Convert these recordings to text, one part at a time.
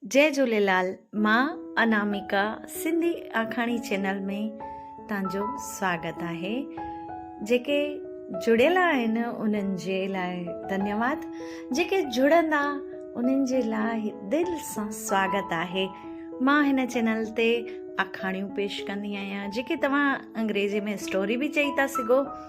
جي جهوليلال مان اناميڪا سنڌي آکاڻي چينل ۾ تان جو سواگت آهي جيڪي جڙيل آهن انهن جي لاء ڌنيواد جيڪي جڙندا انهن جي لاء دل سان سواگت آهي مان هن چينل تي آکاڻيون پيش ڪندي آهيان جيڪي توهان انگريزي ۾ اسٽوري به چئي ٿا سگهو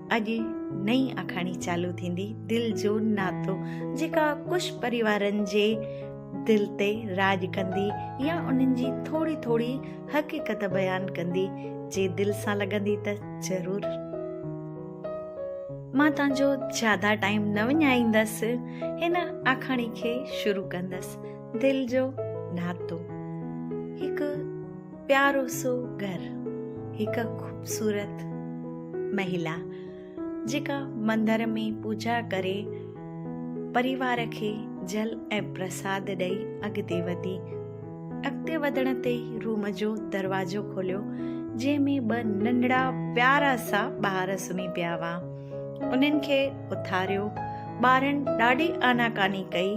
اڄ نئين آکاڻي چالو ٿيندي دل جو ناتو جيڪا ڪش پريوارن جي دل تي راڄ ڪندي يا انهن جي ٿوري ٿوري حقيقت بيان ڪندي جي دل سان لڳندي ته ضرور مان تان جو زياده ٽائيم نه وڃائيندس هن آکاڻي کي شروع ڪندس دل جو ناتو هڪ پيارو سو گهر هڪ خوبصورت مهيلا جيڪا مندر ۾ پوڄا ڪري پريوار کي جل ۽ پرساد ڏئي اڳتي وڌي. اڳتي وڌڻ تي ئي روم جو دروازو کوليو جنهن ۾ ٻه ننڍڙا پيارا سا ٻار سمهي پيا هئا. انهن کي اٿاريو. ٻارن ڏاڍي آناڪاني ڪئي.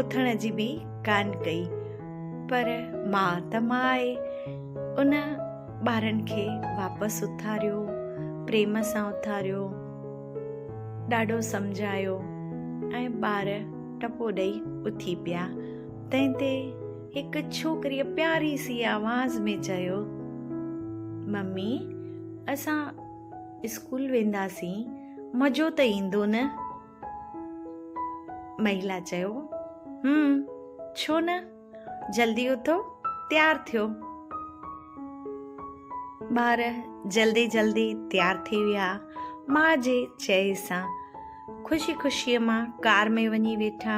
اٿڻ جي به ڪانه ڪئي. پر ماء ته ماء آهي. ان ٻارن کي واپس اٿاريو، پريم سان اٿاريو، ڏاڍو سمجهايو ۽ ٻار ٽپو ڏئي اٿي پيا. تنهن تي هڪ ڇوڪريء پياري سي آواز ۾ چيو، ممي اسان اسڪول وينداسين، مزو ته ايندو نه؟ مهيلا چيو، هم، ڇو نه، جلدي اٿو، تيار ٿيو. ٻار جلدي جلدي تيار ٿي ويا، ماء جي چئي سان خوشي خوشيء مان ڪار ۾ وڃي ويٺا.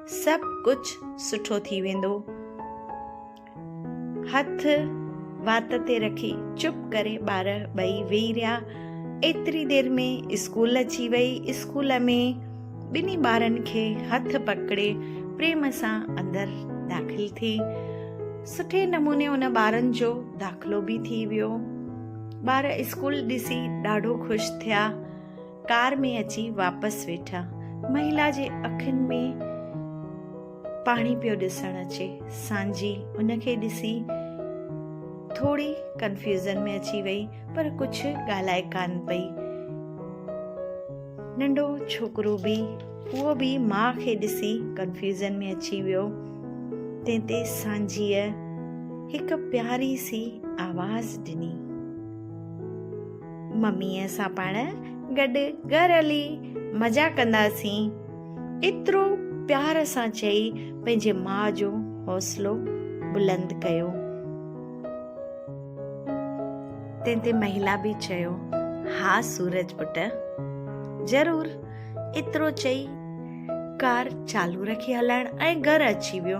سڀ ڪجھ سٺو ٿي ويندو. هٿ وات تي رکي چپ ڪري ٻار ٻئي ويهي رهيا. ايتري دير ۾ اسڪول اچي وئي. اسڪول ۾ ٻنهي ٻارن کي هٿ پڪڙي پريم سان اندر داخل ٿي. سٺي نموني ان ٻارن جو داخلو به ٿي ويو. ٻار اسڪول ڏسي ڏاڍو خوش ٿيا. ڪار ۾ اچي واپس ويٺا. مهيلا جي اکين ۾ پاڻي پيو ڏسڻ اچي. سانجهي ان کي ڏسي ٿوري ڪنفيوزن ۾ اچي وئي پر ڪجهه ڳالهائي ڪانه پئي. ننڍو ڇوڪرو به اهو به ماء کي ڏسي ڪنفيوزن ۾ اچي ويو. تنهن تي سانجهيء هڪ پياري سي آواز ڏني. مميء سان پاڻ گڏ گهر هلي مزا ڪنداسين. ايترو پيار سان چئي پنهنجي ماء جو حوصلو بلند ڪيو. تنهن تي مهيلا به چيو، ها سورج پٽ، ضرور. ايترو چئي ڪار چالو رکي هلائڻ ۽ گهر اچي ويو.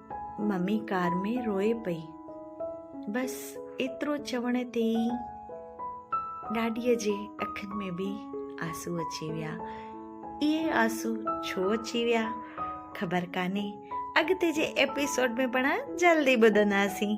ممي ڪار ۾ روئي پئي. بس ايترو چوڻ تي ئي ڏاڏيء جي اکين ۾ به آنسو اچي ويا. اهي آنسو ڇو اچي ويا خبر ڪانهي. اڳتي جي ايپيسوڊ ۾ پڻ جلدي ٻڌنداسين.